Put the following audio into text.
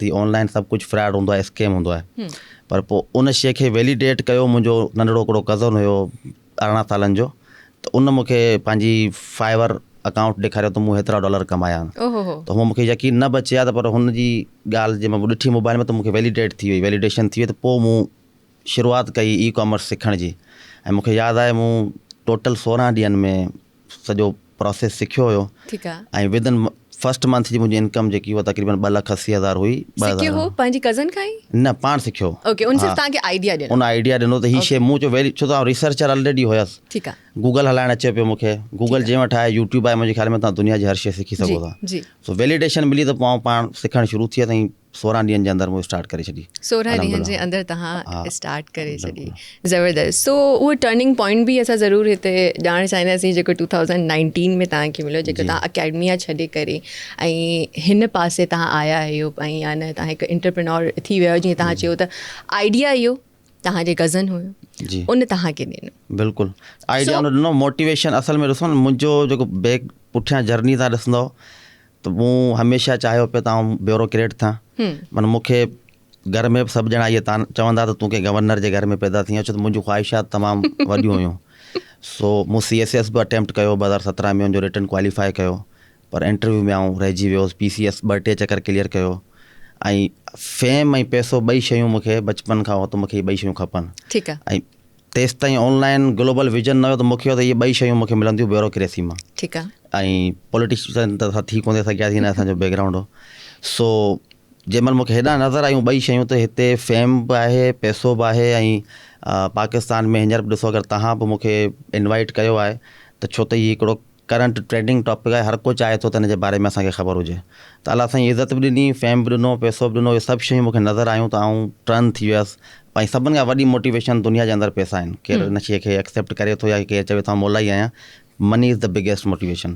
ٿي online سڀ ڪجهه فراڊ هوندو آهي اسڪيم هوندو آهي پر پوء ان شيء کي ويليڊيٽ ڪيو منهنجو ننڍڙو هڪڙو ڪزن هيو ارڙهن سالن جو ته ان مونکي پنهنجي فائيور اڪائونٽ ڏيکاريو ته مون هيترا ڊالر ڪمايا آهن ته هو مونکي يقين نه به اچي ها ته پر هن جي ڳالهه جي مون ڏٺي موبائيل ۾ ته مونکي ويليڊيٽ ٿي وئي ويليڊيشن ٿي وئي ته پوء مون شروعات ڪئي اي ڪامرس سکڻ جي ۽ مونکي ياد آهي مون ٽوٽل سورهن ڏينهن ۾ سڄو پراسيس سکيو هيو ۽ ود ان فرسٽ منٿ جي منهنجي انڪم جيڪي هئي تقريبن ٻه لک اسي هزار هئي. سکيو هو پنهنجي ڪزن کان ئي؟ نه پاڻ سکيو هو. اوڪي ان صرف توهانکي آئيڊيا ڏنو. ان آئيڊيا ڏنو ته هي شي مون چيو ويلي ڇو ته آئون ريسرچر الريڊي هيس. ٺيڪ آ. گوگل هلائڻ اچي پيو مون کي. گوگل جنهن وٽ آهي يوٽيوب آهي منهنجي خيال ۾ تون دنيا جي هر شي سکي سگهو ٿا. سو ويليڊيشن ملي ته پوء آئون پاڻ سکڻ شروع ٿي ويس ۽ سورهن ڏينهن جي اندر مون اسٽارٽ ڪري ڇڏي. سورهن ڏينهن جي اندر توهان اسٽارٽ ڪري ڇڏي زبردست سو اهو ٽرننگ پوائنٽ به اسان ضرور هتي ڄاڻڻ چاهينداسين جيڪو ٽو ٿائوزنڊ نائنٽين ۾ توهان کي مليو جيڪو توهان اڪيڊميا ڇڏي ڪري ۽ هن پاسي توهان آيا آهيو ۽ يا نه توهان هڪ انٽرپرنور ٿي ويا جيئن توهان چيو ته آئيڊيا اهو توهان جي غزن هيو ان توهان کي ڏنو بلڪل آئيڊيا ان ڏنو موٽيويشن اصل ۾ ڏسو نه منهنجو جيڪو بيڪ پٺيان جرني تان ڏسندو ته مون هميشه چاهيو پيو ته آئون بيوروڪريٽ ٿان. معنيٰ مون کي گهر ۾ به سڀ ڄڻا اهي چوندا ته تون ڪنهن گورنر جي گهر ۾ پيدا ٿي آهين، ڇو ته منهنجون خواهشات تمام وڏيون هيون. سو مون سي ايس ايس به اٽيمپٽ ڪيو ٻه هزار سترهن ۾ ان جو رٽن ڪواليفاء ڪيو پر انٽرويو ۾ آئون رهجي ويو هوس، پي سي ايس ٻه ٽي چڪر ڪليئر ڪيو ۽ فيم ۽ پئسو ٻئي شيون مون کي بچپن کان هو ته مون کي هي ٻئي شيون کپن ۽ تيستائين آن لائن گلوبل ويزن نه هيو ته مون کي هيو ته اهي ٻئي شيون مون کي ملنديون بيوروڪريسي مان ٺيڪ آهي ۽ پوليٽيشن ته اسان ٿي ڪونه سگهياسين نه اسانجو بيڪ گرائونڊ هو سو جنهن مهل مون کي هيڏانهن نظر آيون ٻئي شيون ته هتي فيم به آهي پيسو به آهي ۽ پاڪستان ۾ هينئر به ڏسو اگر توهان به مون کي انوائيٽ ڪيو آهي ته ڇو ته هي هڪڙو ڪرنٽ ٽريڊنگ ٽاپڪ آهي هر ڪو چاهي ٿو ته ان جي باري ۾ اسان کي خبر هجي ته الله سائين عزت به ڏني فيم به ڏنو پيسو به ڏنو اهي سڀ شيون مونکي نظر آيون ته آئون ٽرن ٿي ويس ۽ سڀن کان وڏي موٽيويشن دنيا جي اندر پيسا آهن ڪير ان شيء کي ايڪسيپٽ ڪري ٿو يا ڪير چوي ٿو مولائي آهيان money is the biggest motivation